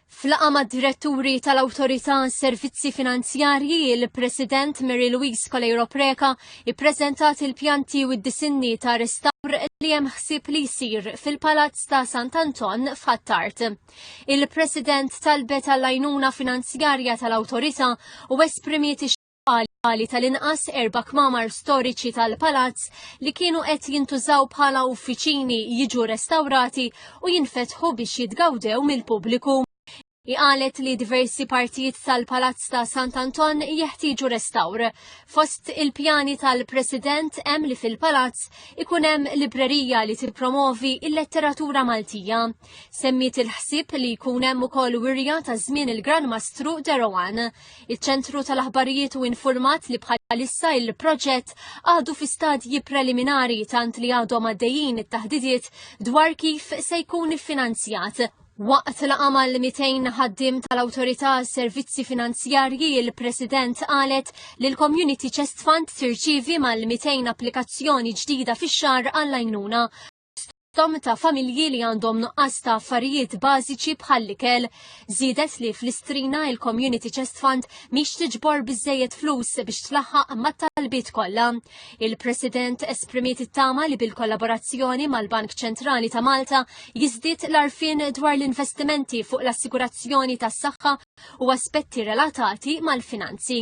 F'laqgħa mad-diretturi tal-Awtorità għas-Servizzi Finanzjarji, il-President Mary Louise Coleiro Preca ippreżentat il-pjanti u d-disinni ta' restawr li hemm ħsieb li jsir fil-Palazz ta' Sant'Anton f'Ħattart. Il-President talbet għall-għajnuna finanzjarja tal-Awtorità u esprimiet għali tal-inqas erba' kmamar storiċi tal-palazz li kienu qed jintużaw bħala uffiċini jiġu restawrati u jinfetħu biex jitgawdew mill-pubbliku. Iqalet li diversi partijiet tal-Palazz ta' Sant Anton jeħtieġu restawr. Fost il-pjani tal-President hemm li fil-Palazz ikun hemm librerija li tippromovi il-letteratura Maltija. Semmiet il-ħsieb li jkun hemm ukoll wirja ta' żmien il-Gran Mastru Derowan. Iċ-ċentru tal-aħbarijiet u informat li bħalissa il-proġett għadu fi stadji preliminari tant li għadhom għaddejjin it-taħdidiet dwar kif se jkun iffinanzjat. Waqt la għamal 200 ħaddim tal-Awtorità Servizzi Finanzjarji il-President qalet li l-Community Chest Fund tirċivi mal-200 applikazzjoni ġdida fix-xar għall-għajnuna fosthom ta' familji li għandhom nuqqas ta' affarijiet bażiċi bħal ikel. Żiedet li fl-Istrina il-Community Chest Fund mhix tiġbor biżejjed flus biex tlaħħaq mat-talbiet kollha. Il-President esprimiet it-tama li bil-kollaborazzjoni mal-Bank Ċentrali ta' Malta jiżdied l-arfin dwar l-investimenti fuq l-assigurazzjoni tas-saħħa u aspetti relatati mal-finanzi.